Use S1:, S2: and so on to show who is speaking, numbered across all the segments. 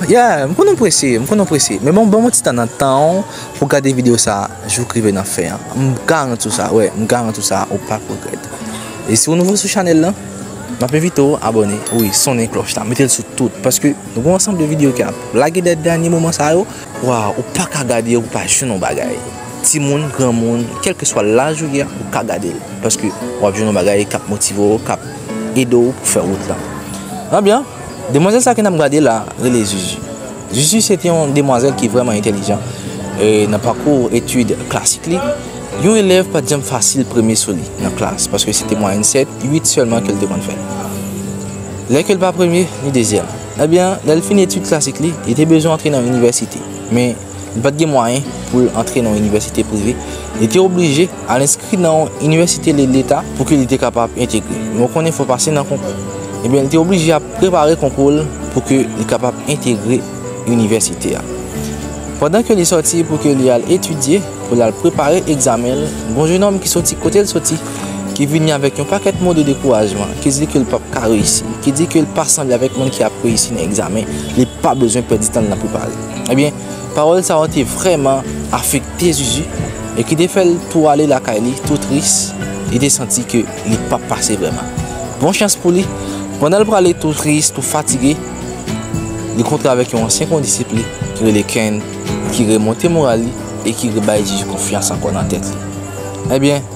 S1: Yeah, m konnen w prese, m konnen w prese. Men bon, ban mwen ti tan nan tan w pou w gade videyo sa a jouk rive nan fen an. M garanti w sa, wè, m garanti w sa, ou p ap regrèt. E si w nouvo sou chanèl lan, m ap envite w abòne, wi, sonnen klòch la, mete l sou tout, paske nou gen yon ansanm de videyo ki ap lage dèt dènye moman sa yo. Waw ou paka gade ou pa jwenn yon bagay timoun granmoun kelkeswa laj ou ye ou ka gadel paske wap jwenn yon bagay kap motive w kap ede w pou fè wout lan ebyen demwazèl sa ke nap gade la rele zuzu zuzu se te yon demwazèl ki vreman entelijan nan pakou etid klasik li yon elèv pat janm fasil premye sou li nan klas paske se te mwayèn 7, 8 sèlman ke l te konn fè lè ke l pa premye li dezyèm. Ebyen, lè l fin etid klasik li, li te bezwen antre nan yon inivèsite. Men, li pa t gen mwayen pou l antre nan yon inivèsite prive. Li te oblije al enskri nan yon inivèsite leta pou ke li te kapab entegre. Men ou konnen fò w pase nan konkou. Ebyen, li te oblije ap prepare konkou l pou ke li kapab entegre inivèsite a. Pandan ke li sòti pou ke li al etidye, pou l al prepare egzamen l, gon jenòm ki sòti kote l sòti. ki vini avèk yon pakèt mo de dekourajman, ki di ke l pap ka reyisi, ki di ke l pa sanble avèk moun ki ap reyisi nan egzamen, li pa bezwen pèdi tan l nan prepare. Ebyen, pawòl sa yo te vrèman afekte Zuzu, e ki te fè l tou ale lakay li, tou tris, li te santi ke li pap pase vrèman. Bon chans pou li, pandan l prale tou tris, tou fatige, li kontre avèk yon ansyen kondisip li, ki rele Ken, ki remonte moral li, e ki rebay Zuzu konfyans ankò nan tèt li. Ebyen.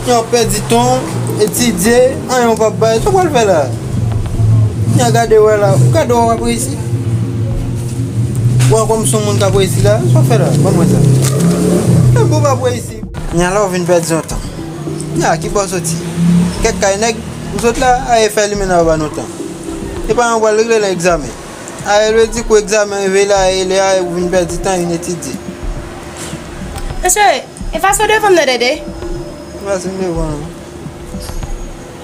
S2: Nèg yo pèdi tan yo, etidye, anyen yo pap bay, sa yo pral fè la? Nèg gade wè la, gade wè wap reyisi? Wè kòm son moun kap reyisi la, sa wap fè la? Banm wè sa. Menm pou pap reyisi. Nèg la ou vin pèdi yon tan. Nèg la ki bò soti? Kèk kay nèg, ou sot la, aye fè limena yo ba nou tan. E pa yon pral regle nan egzamen. Aye lwe di kou egzamen rive la, aye lè aye ou vin pèdi tan, vin etidye.
S3: Mesye, E fason devanm nan dede. E fason
S2: devanm nan.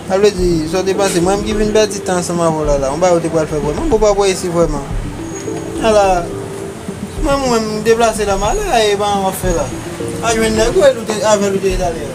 S2: Sa vle di sa w te panse mwen menm ki vin pèdi tan ansanm avè w la la. Yon bagay ou te pral fè vrèman bon pa pou reyisi vrèman. A la menm ou menm deplase la malè a e ban w ap fè la. Al jwenn nèg ou e l ou te avè l ou te ye talè a.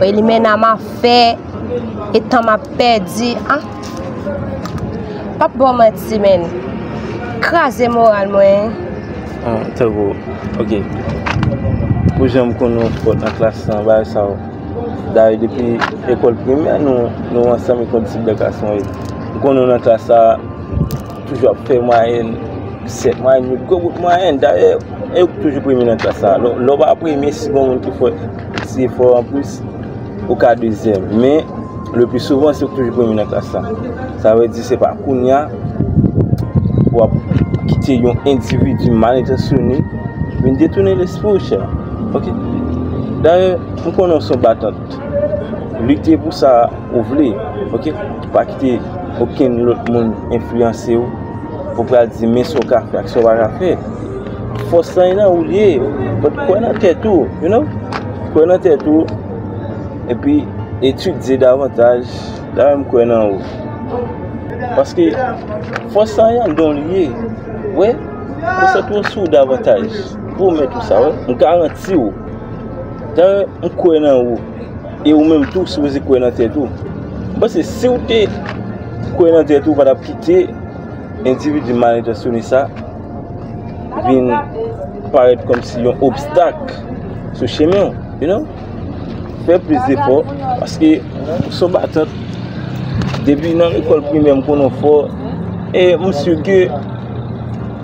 S4: Woy limena ma fè E tan map pèdi ah Pap baw manti men Kraze moral mwen Ah tankou
S5: ok Pou janm konn nou fò nan klas lan bagay sa yo Dayè depi lekòl primè nou ansanm e kondisip dèklasman yo M konn nou nan klas la Toujou ap fè mwayèn 7 mwayèn yo gwo bout mwayèn dayè e yo ki toujou premye nan klas la lè w pa premye si gen moun ki fè ti efò anplis ou ka dezyèm men le pli souvan se ou ki toujou premye nan klas la sa vle di se pa kounya w ap kite yon endividi mal entansyonnen vin detounen lespri w chè dayè m konnen w se yon batant Lite pou sa ou vle, ok? Pa kite okenn lòt moun enfliyanse ou pou pral di men sa w ka fè ak sa w pa ka fè. Fòs lan e nan ou l ye, but kwè nan tèt ou, you know? Kwè nan tèt ou, epi etidye davantaj, la menm kwè nan ou. Paske fòs lan e anndan w li ye, wè? Konsantre w sou davantaj, pwomèt ou sa, wè? M garanti w. Tan m kwè nan ou, e ou menm tou sipoze kwè nan tèt ou. M panse si w te kwè nan tèt ou, ou pa t ap kite endividi malentansyone sa vin parèt kòmsi yon obstak sou chemen w, you know. Fè plis zefò, paske ou s on batant. Depi nan lekòl primè m konnen w fò, e m si ke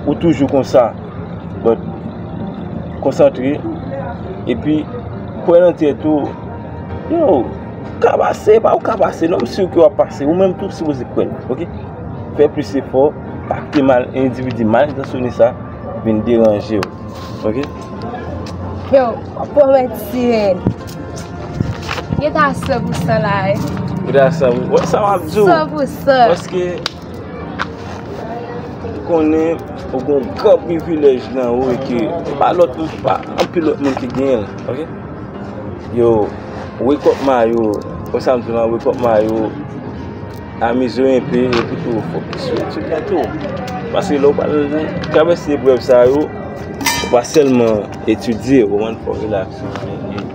S5: ou toujou konsa. But konsantre epi kwè nan tèt ou Yo ou ka pase epa ou ka pase non m sur ke wap pase ou menm tou sipoze kwè nan ok fè plis efò pa kite mal endividi mal entasyone sa vin deranjew ok.
S4: Yow wap wè ti sirèn Geta san pou san la wi Geta san pou
S5: san San pou san Paske. Ou konnen ou gen yon gran privilèj nan ou e ke se pa lòt moun, se pa anpil lòt moun ki genyen l, ok. Yo, wake up Mayo, kon sa m di w lan, wake up Mayo, amize w enpe e pi tou fokis sou etid ou tou. Paske lè w pral travèse eprèv sa yo, se pa sèlman etidye, ou konprann, fò w relaks.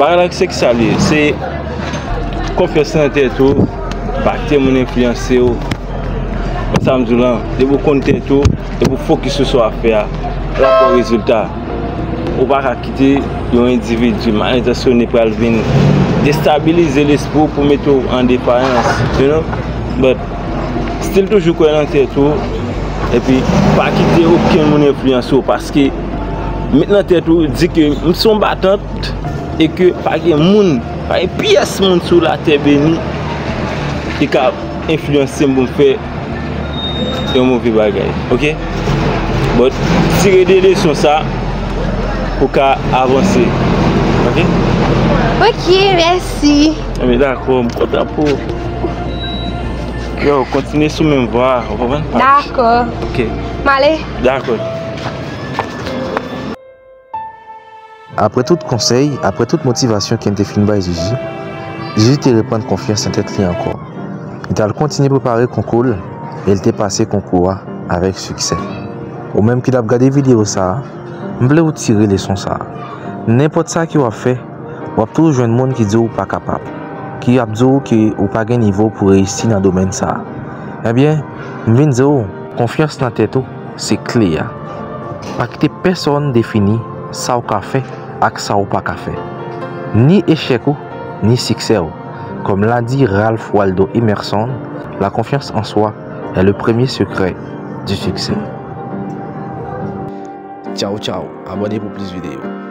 S5: Bagay la se kisa li ye, se konfyans nan tèt ou, pa kite moun enfliyanse w, konn sa m di w lan, depi w konn tèt ou, depi w fokis sou sa w ap fè a, w ap wè rezilta, ou pa ka kite yon endividi mal entansyone pral vin destabilize lespri w pou mete w an depayans, you know, but still toujou kwè nan tèt ou, epi pa kite okenn moun enfliyanse w paske. met nan tèt ou di ke m son batant e ke pa gen moun, pa gen pyès moun sou la tè beni ki ka enfliyanse m pou m fè yon move bagay. Ok? Bon, tire de leson sa pou ka avanse. Ok?
S4: Ok, mèsi. Mwen mèt dakò,
S5: m kontan pou ou. Yo, kontinye sou menm vwa a, ou konprann? Dakò.
S4: Ok. M
S5: ale.
S4: Dakò.
S1: Apre tout konsèy, apre tout motivasyon Ken te fin bay Jiji, Jiji te reprann konfyans nan tèt li ankò. Li t al kontinye prepare konkou l e l te pase konkou a avèk siksè. Ou menm ki t ap gade videyo sa a, m vle ou tire leson sa a, Nenpòt sa ke w ap fè, w ap toujou jwenn moun ki di w ou pa kapab, ki ap di w ke ou pa gen nivo pou reyisi nan domèn sa a. Ebyen, m vin di w, Konfyans nan tèt ou se kle a. Pa kite pèsonn defini sa w ka fè ak sa w pa ka fè. Ni echèk ou, ni siksè w. Kòm l'a di Ralph Waldo Emerson, la confiance en soi est le premier secret du succès. Tchao tchao, abone pou plis videyo.